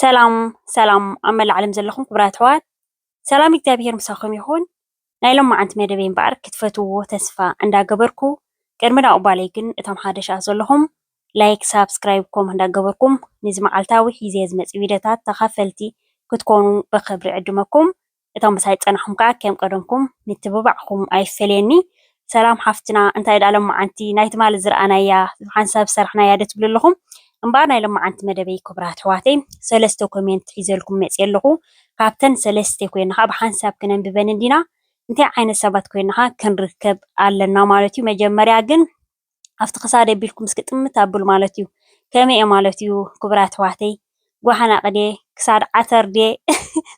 ሰላም ሰላም ኣብ መላእ ዓለም ዘለኹም ክቡራት ኣሕዋት ሰላም እግዚኣብሔር ምሳኹም ይኹን። ናይ ሎማዓንቲ መደበይ እምበኣር ክትፈትውዎ ተስፋ እንዳገበርኩ ቅድሚ ናብኡ ባለይ ግን እቶም ሓደሻት ዘለኹም ላይክ ሳብስክራይብ ኮም እንዳገበርኩም ነዚ መዓልታዊ ሒዜ ዝመጽእ ቪድዮታት ተኻፈልቲ ክትኮኑ ብኽብሪ ዕድመኩም እቶም ምሳይ ዝጸናሕኩም ከኣ ከም ቀደምኩም ምትብባዕኩም ኣይፈለየኒ። ሰላም ሓፍትና እንታይ ድኣ ለማዓንቲ ናይ ትማሊ ዝረኣናያ ሓንሳብ ዝሰራሕናያ ዶ ትብሉ ኣለኹም እምበኣር ናይ ለማዓንቲ መደበይ ኩቡራት ኣሕዋተይ ሰለስተ ኮሜንት ሒዘልኩም መጽየ ኣለኹ ካብተን ሰለስተ ኮይና ከኣ ብሓንሳብ ክነንብበን እንዲና እንታይ ዓይነት ሰባት ኮይና ከኣ ክንርከብ ኣለና ማለት እዩ መጀመርያ ግን ኣብቲ ክሳደይ ኣቢልኩም እስኪ ጥምት ኣብሉ ማለት እዩ ከመይ እየ ማለት እዩ ክቡራት ኣሕዋተይ ጓሓን ኣቅድየ ክሳድ ዓተር ድየ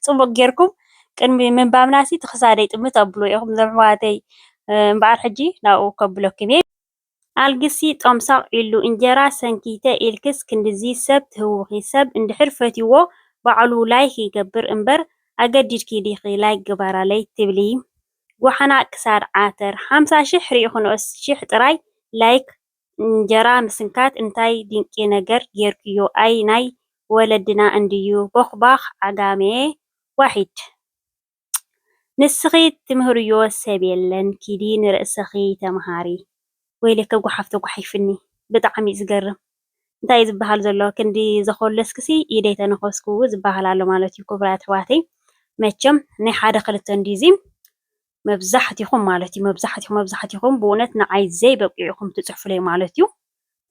ፅቡቅ ጌርኩም ቅድሚ ምንባብና ሲ እቲ ክሳደይ ጥምት ኣብሉ ኢኹም ዘሕዋተይ እምበኣር ሕጂ ናብኡ ከብለኩም እየ ኣልግሲ ጦምሳቅ ኢሉ እንጀራ ሰንኪተ ኢልክስ ክንድዚ ሰብ ትህውኺ ሰብ እንድሕር ፈትይዎ ባዕሉ ላይክ ይገብር እምበር ኣገዲድኪ ዲኺ ላይክ ግበራለይ ትብሊ ጓሓና ክሳድ ዓተር ሓምሳ ሽሕ ሪኢክኖስ ሽሕ ጥራይ ላይክ እንጀራ ምስንካት እንታይ ድንቂ ነገር ጌርክዮ ኣይ ናይ ወለድና እንድዩ ቦኽባኽ ዓጋመ ዋሒድ ንስኺ ትምህርዮ ሰብ የለን ኪዲ ንርእስኺ ተማሃሪ ወይለከ ጓሓፍ ተጓሒፍኒ ብጣዕሚ እዩ ዝገርም እንታይ እዩ ዝበሃል ዘሎ ክንዲ ዘኾለስኩሲ ኢደይ ተነኸስኩ ዝበሃል ኣሎ ማለት እዩ ክቡራት ኣሕዋተይ መቸም ናይ ሓደ ክልተ እንድዩዚ መብዛሕቲኹም ማለት እዩ መብዛሕቲኹም መብዛሕቲኹም ብእውነት ንዓይ ዘይበቂዑ ኢኹም ትፅሕፉለይ ማለት እዩ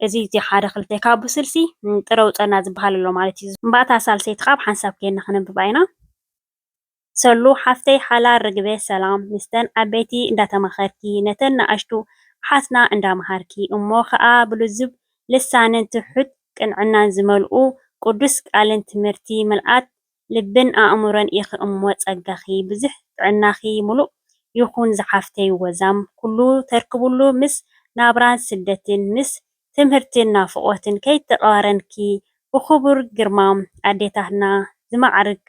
እዚ እቲ ሓደ ክልተ ካብ ስልሲ ጥረ ውፀና ዝበሃል ኣሎ ማለት እዩ። እምባእታ ሳልሰይቲ ካብ ሓንሳብ ኬንና ክነንብባ ኢና። ሰሉ ሓፍተይ ሓላል ርግበ ሰላም ምስተን ዓበይቲ እንዳተማኸርኪ ነተን ንኣሽቱ ኣሓትና እንዳመሃርኪ እሞ ኸኣ ብልዙብ ልሳንን ትሑት ቅንዕናን ዝመልኡ ቅዱስ ቃልን ትምህርቲ ምልኣት ልብን ኣእምሮን ኢኺ እሞ ጸጋኺ ብዙሕ ጥዕናኺ ምሉእ ይኹን ዝሓፍተይ ወዛም ኩሉ ተርክብሉ ምስ ናብራን ስደትን ምስ ትምህርትን ናፍቆትን ከይተቃረንኪ ብክቡር ግርማ ኣዴታትና ዝማዕርግ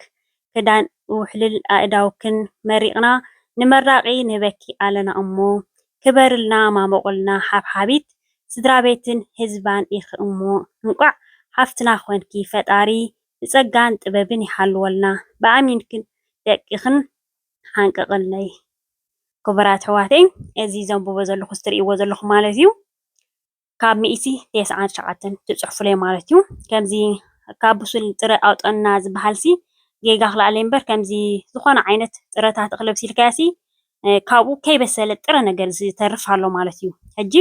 ክዳን ውሕሉል ኣእዳውክን መሪቅና ንመራቂ ንህበኪ ኣለና እሞ ክበርልና ማሞቅልና ሓብሓቢት ስድራቤትን ህዝባን ኢኪ እሞ እንቋዕ ሓፍትና ኮንኪ ፈጣሪ ብጸጋን ጥበብን ይሓልወልና ብኣሚንክን ደቂክን ሓንቅቅለይ ክቡራት ኣሕዋተይ እዚ ዘንብቦ ዘለኩ እዚ ትርእይዎ ዘለኩም ማለት እዩ ካብ ሚእቲ ቴስዓን ትሽዓተን ትጽሕፉለይ ማለት እዩ። ከምዚ ካብ ብሱል ጥረ ኣውጠና ዝበሃልሲ ጌጋ ክልኣለይ እምበር ከምዚ ዝኾነ ዓይነት ጥረታት እኽሊ ኣብሲልካዮሲ ካብኡ ከይበሰለ ጥረ ነገር ዝተርፍ ኣሎ ማለት እዩ። ሕጂ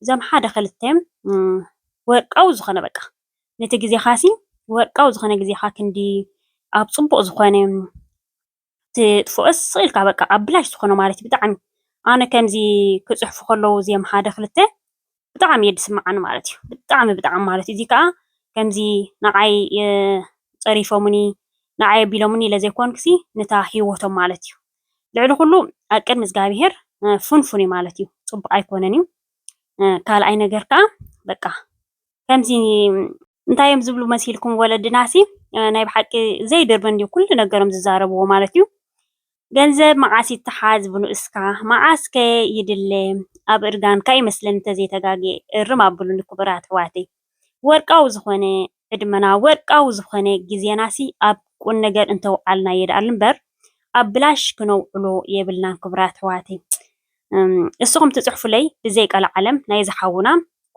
እዞም ሓደ ክልተ ወርቃዊ ዝኾነ በቃ ነቲ ግዜኻሲ ወርቃዊ ዝኾነ ግዜኻ ክንዲ ኣብ ጽቡቕ ዝኾነ ክትጥፍኦስ ስቅ ኢልካ በቃ ኣብ ብላሽ ዝኮነ ማለት እዩ ብጣዕሚ ኣነ ከምዚ ክጽሕፉ ከለዉ እዚኦም ሓደ ክልተ ብጣዕሚ እየ ዝስምዓኒ ማለት እዩ ብጣዕሚ ብጣዕሚ ማለት እዩ እዚ ከዓ ከምዚ ንዓይ ጸሪፎሙኒ ንዓይ ኣቢሎሙኒ ኢለ ዘይኮንኩሲ ንታ ሂወቶም ማለት እዩ ልዕሊ ኩሉ ኣብ ቅድሚ እግዚኣብሄር ፍንፉን እዩ ማለት እዩ ጽቡቅ ኣይኮነን እዩ ካልኣይ ነገር ከዓ በቃ ከምዚ እንታይ እዮም ዝብሉ መሲልኩም ወለድናሲ ናይ ብሓቂ ዘይድርቢ እንዲዩ ኩሉ ነገሮም ዝዛረብዎ ማለት እዩ። ገንዘብ መዓስ ይተሓዝ ብንኡስካ መዓስ ከ ይድለ ኣብ እርጋንካ እዩ መስለኒ እንተዘይተጋግየ እርም ኣብሉኒ ክቡራት ኣሕዋተይ። ወርቃዊ ዝኾነ ዕድመና ወርቃዊ ዝኾነ ግዜናሲ ኣብ ቁም ነገር እንተውዓልና የድኣል እምበር ኣብ ብላሽ ክነውዕሎ የብልናን ክቡራት ኣሕዋተይ። እም፣ እስኹም ትጽሕፉለይ ብዘይ ቀልዓለም ናይዚ ሓውና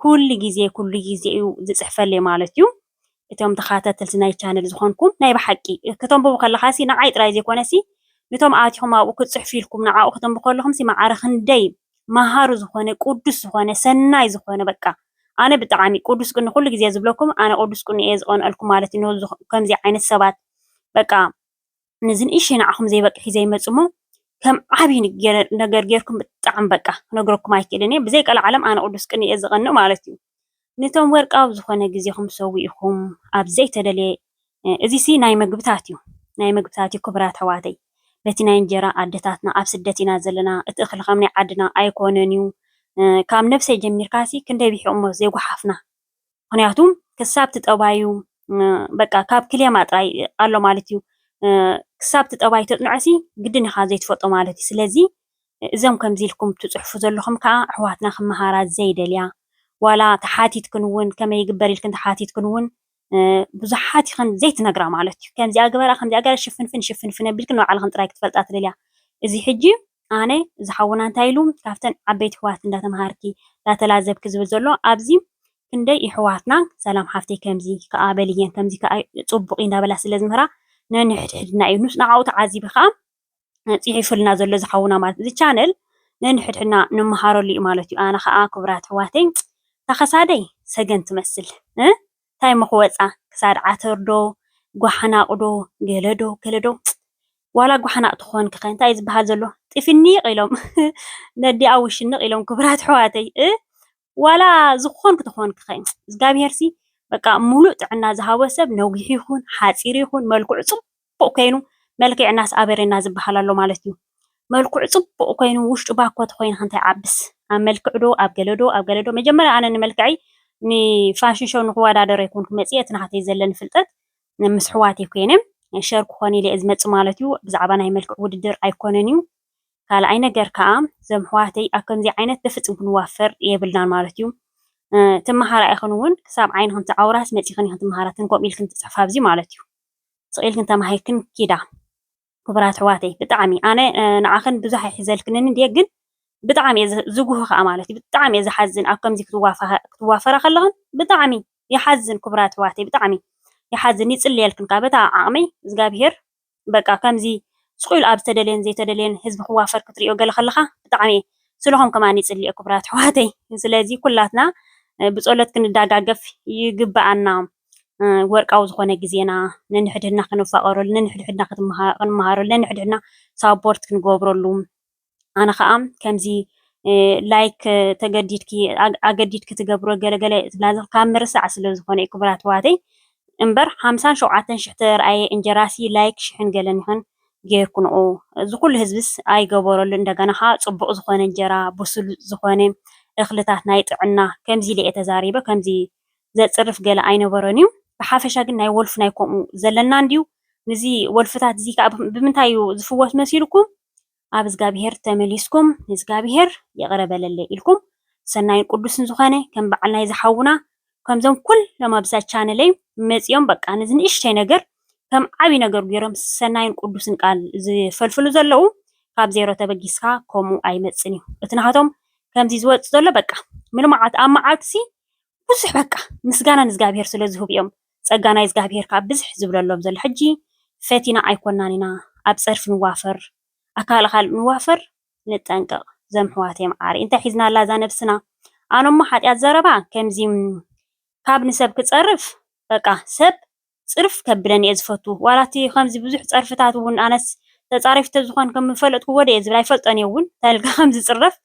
ኩሉ ግዜ ኩሉ ግዜ እዩ ዝጽሕፈለይ ማለት እዩ። እቶም ተኻታተልቲ ናይ ቻነል ዝኾንኩም ናይ ብሓቂ ከተንብቡ ከለኻሲ ንዓይ ጥራይ ዘይኮነሲ ንቶም ኣቲኹም ኣብኡ ክትጽሕፉ ኢልኩም ንዓኡ ከተንብቡ ከለኹምሲ መዓረ ክንደይ መሃሩ ዝኾነ ቅዱስ ዝኾነ ሰናይ ዝኾነ በቃ ኣነ ብጣዕሚ ቅዱስ ቅኒ ኩሉ ግዜ ዝብለኩም ኣነ ቅዱስ ቅኒ እየ ዝቐንኣልኩም ማለት እዩ ከምዚ ዓይነት ሰባት በቃ ነዚ ንእሽተይ ንዓኹም ዘይበቅዕ ሒዘ ይመጽእ እሞ ከም ዓቢ ነገር ጌርኩም ብጣዕሚ በቃ ክነግረኩም ኣይክእልን እየ ብዘይ ቀልዓለም ኣነ ቅዱስ ቅንኢ እየ ዝቐንእ ማለት እዩ ነቶም ወርቃዊ ዝኾነ ግዜኹም ሰዊእኹም ኣብ ዘይተደልየ እዚሲ ናይ መግብታት እዩ ናይ መግብታት እዩ ክቡራት ኣሕዋተይ በቲ ናይ እንጀራ ኣደታትና ኣብ ስደት ኢና ዘለና እቲ እኽሊ ከም ናይ ዓድና ኣይኮነን እዩ ካብ ነብሰይ ጀሚርካሲ ክንደይ ብሒቑሞ ዘይጓሓፍና ምክንያቱ ክሳብ እቲ ጠባዩ በቃ ካብ ክሌማ ጥራይ ኣሎ ማለት እዩ ክሳብ እቲ ጠባይ ተጽንዖሲ ግድን ኢኻ ዘይትፈልጦ ማለት እዩ ስለዚ እዞም ከምዚ ኢልኩም ትጽሕፉ ዘለኹም ከዓ ኣሕዋትና ክመሃራ ዘይደልያ ዋላ ተሓቲትክን እውን ከመይ ይግበር ኢልክን ተሓቲትክን እውን ብዙሓት ይኽን ዘይትነግራ ማለት እዩ ከምዚኣ ግበራ ከምዚኣ ገራ ሽፍንፍን ሽፍንፍን ኣቢልክን ንባዕልኽን ጥራይ ክትፈልጣ ትደልያ እዚ ሕጂ ኣነ እዚ ሓውና እንታይ ኢሉ ካብተን ዓበይቲ ኣሕዋት እንዳተማሃርኪ እንዳተላዘብኪ ዝብል ዘሎ ኣብዚ ክንደይ የሕዋትና ሰላም ሓፍተይ ከምዚ ከኣ በልየን ከምዚ ከኣ ጽቡቅ እዩ እንዳበላ ስለ ዝምህራ ነንሕድሕድና እዩ ንዓኡ ተዓዚቢ ከኣ ጽሒፉልና ዘሎ እዚ ሓውና ማለት እዚ ቻነል ነንሕድሕድና ንመሃረሉ እዩ ማለት እዩ ኣነ ከኣ ክቡራት ኣሕዋተይ ታኸሳደይ ሰገን ትመስል ታይ መክወፃ ክሳድ ዓተር ዶ ጓሓናቅ ዶ ገለ ዶ ገለ ዶ ዋላ ጓሓናቅ ተኮንኪ ከ ታይ እዩ ዝባሃል ዘሎ ጢፍኒቅ ኢሎም ነዲኣ ውሽንቅ ኢሎም ክብራት ኣሕዋተይ እ ዋላ ዝኮንኪ ተኮንኪ ከ እዝጋብሄር ሲ በቃ ሙሉእ ጥዕና ዝሃቦ ሰብ ነዊሕ ይኩን ሓፂር ይኩን መልክዑ ፅቡቅ ጽቡቅ ኮይኑ መልኪዕናስ ኣበሬና ዝብሃል ኣሎ ማለት እዩ መልኩዑ ጽቡቅ ኮይኑ ውሽጡ ባኮ ተኮይንኪ እንታይ ዓብስ ኣብ መልክዕ ዶ ኣብ ገለ ዶ ኣብ ገለ ዶ መጀመርያ ኣነ ንመልክዐይ ን ፋሽን ሾው ንክወዳደር ኣይኮንኩ መጽየ እቲ ናህተይ ዘለኒ ፍልጠት ምስ ኣሕዋተይ ኮይነ ሸር ክኮን ኢለ እየ ዝመጽእ ማለት እዩ ብዛዕባ ናይ መልክዕ ውድድር ኣይኮነን እዩ ካልኣይ ነገር ከኣ እዞም ኣሕዋተይ ኣብ ከምዚ ዓይነት በፍጽም ክንዋፈር የብልናን ማለት እዩ ትመሃራ ኢኽን እውን ክሳብ ዓይንኽን ትዓውራስ መጺኽን ኢኽን ትመሃራ ትንኮም ኢልክን ትጽሕፋ ኣብዚ ማለት እዩ ስቂልክን ተማሂርክን ኪዳ ኩቡራት ኣሕዋተይ ብጣዕሚ ኣነ ንዓክን ብዙሕ ኣይሕዘልክንን እንድየ ግን ብጣዕሚ እየ ዝጉህ ከዓ ማለት እዩ ብጣዕሚ እየ ዝሓዝን ኣብ ከምዚ ክትዋፈራ ከለክን ብጣዕሚ ይሓዝን ኩቡራት ኣሕዋተይ ብጣዕሚ ይሓዝን ይፅልየልክን ከዓ በታ ዓቅመይ እግዚኣብሄር በቃ ከምዚ ስቁኢሉ ኣብ ዝተደልየን ዘይተደልየን ህዝቢ ክዋፈር ክትሪኦ ገለ ከለካ ብጣዕሚ እየ ስለኹም ከማን ይፅልየ ኩቡራት ኣሕዋተይ ስለዚ ኩላትና ብፀሎት ክንዳጋገፍ ይግበኣና። ወርቃዊ ዝኾነ ግዜና ነንሕድሕድና ክንፋቐረሉ፣ ነንሕድሕድና ክንመሃረሉ፣ ነንሕድሕድና ሳፖርት ክንገብረሉ፣ ኣነ ከኣ ከምዚ ላይክ ተገዲድኪ ኣገዲድኪ ትገብሮ ገለገለ ትብላ ካብ ምርሳዕ ስለ ዝኾነ እዩ ክቡራት ኣሕዋተይ እምበር ሓምሳን ሸውዓተን ሽሕ ተረኣየ እንጀራሲ ላይክ ሽሕን ገለን ይኹን ጌርኩንኦ እዚ ኩሉ ህዝብስ ኣይገበረሉ እንደገና ከዓ ፅቡቅ ዝኾነ እንጀራ ብሱል ዝኾነ እኽልታት ናይ ጥዕና ከምዚ ኢለ እየ ተዛሪበ ከምዚ ዘጽርፍ ገለ ኣይነበሮን'ዩ። ብሓፈሻ ግን ናይ ወልፊ ናይ ከምኡ ዘለና እንድዩ። ንዚ ወልፍታት'ዚ ከኣ ብምንታይ'ዩ ዝፍወስ መሲልኩም? ኣብ እዝጋብሄር ተመሊስኩም ንእዝጋብሄር ይቕረ በለለይ ኢልኩም ሰናይን ቅዱስን ዝኾነ ከም በዓል ናይዚ ሓውና ከምዞም ኩሎም ኣብዛ ቻነለይ መጺኦም በቃ ነዚ ንእሽተይ ነገር ከም ዓቢ ነገር ጌሮም ሰናይን ቅዱስን ቃል ዝፈልፍሉ ዘለዉ ካብ ዜሮ ተበጊስካ ከምኡ ኣይመጽን እዩ እቲ ናሃቶም ከምዚ ዝወጽእ ዘሎ በቃ ምልማዓት ኣብ መዓልቲ'ሲ ብዙሕ በቃ ምስጋና ንእዝጋብሄር ስለ ዝህቡ እዮም ጸጋ ናይ እዝጋብሄር ከኣ ብዝሕ ዝብለሎም ዘሎ ሕጂ ፈቲና ኣይኮናን ኢና ኣብ ጸርፊ ንዋፈር ኣካል ኣካል ንዋፈር ንጠንቀቅ ዘምሕዋተይ መዓረይ እንታይ ሒዝና ኣላ እዛ ነብስና ኣነሞ ሓጥያት ዘረባ ከምዚ ካብ ንሰብ ክጸርፍ በቃ ሰብ ጽርፍ ከብለን እየ ዝፈቱ ዋላ እቲ ከምዚ ብዙሕ ጸርፍታት ውን ኣነስ ተጻሪፊ ተዝኮን ከም ምፈለጥክዎ ድየ ዝብል ኣይፈልጦን እየ ውን እንታይ ኢልካ ከም ዝጽረፍ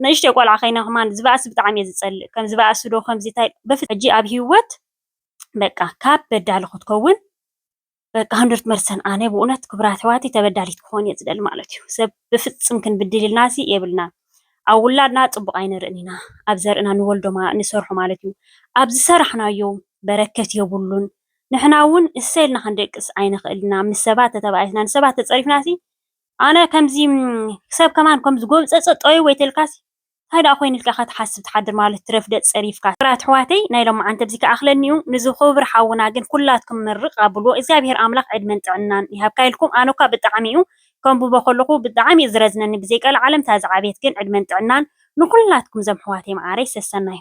ንእሽተይ ቆልዓ ከይነ ከማን ዝባእሲ ብጣዕሚ እየ ዝጸልእ ከም ዝባእሲ ዶ ከምዚ ታይ በፍጽም ሕጂ ኣብ ሂወት በቃ ካብ በዳሊ ክትከውን በቃ ሃንድርት መርሰን ኣነ ብኡነት ክብራት ኣሕዋተይ ተበዳሊት ክኮን እየ ዝደሊ ማለት እዩ ሰብ ብፍጽም ክንብድል ኢልናሲ የብልናን። ኣብ ውላድና ፅቡቕ ኣይንርእን ኢና ኣብ ዘርእና ንወልዶ ንሰርሖ ማለት እዩ ኣብ ዝሰራሕናዮ በረከት የብሉን ንሕና እውን እሰይ ኢልና ክንደቅስ ኣይንኽእል ኢና ምስ ሰባት ተተባኢስና ንሰባት ተፀሪፍናሲ ኣነ ከምዚ ሰብ ከማን ከም ዝጎብፀፀ ጠውይ ወይ ተልካሲ እንታይ ደኣ ኮይኑ ኢልካ ከትሓስብ ትሓድር ማለት ትረፍ ደፅ ፀሪፍካሲ። ክብራት ኣሕዋተይ ናይ ሎምዓንቲ እብዚ ክኣክለኒ እዩ ንዚ ኩብር ሓውና ግን ኩላትኩም ምርቅ ኣብልዎ እግዚኣብሔር ኣምላክ ዕድመን ጥዕናን ይሃብካ ኢልኩም ኣነኳ ብጣዕሚ እዩ ከንብቦ ከለኩ ብጣዕሚ እዩ ዝረዝነኒ ብዘይ ቀልዓለም እታ ዝዓበየት ግን ዕድመን ጥዕናን ንኩላትኩም ዘም ሕዋተይ ማዓረይ ሰሰናዩ።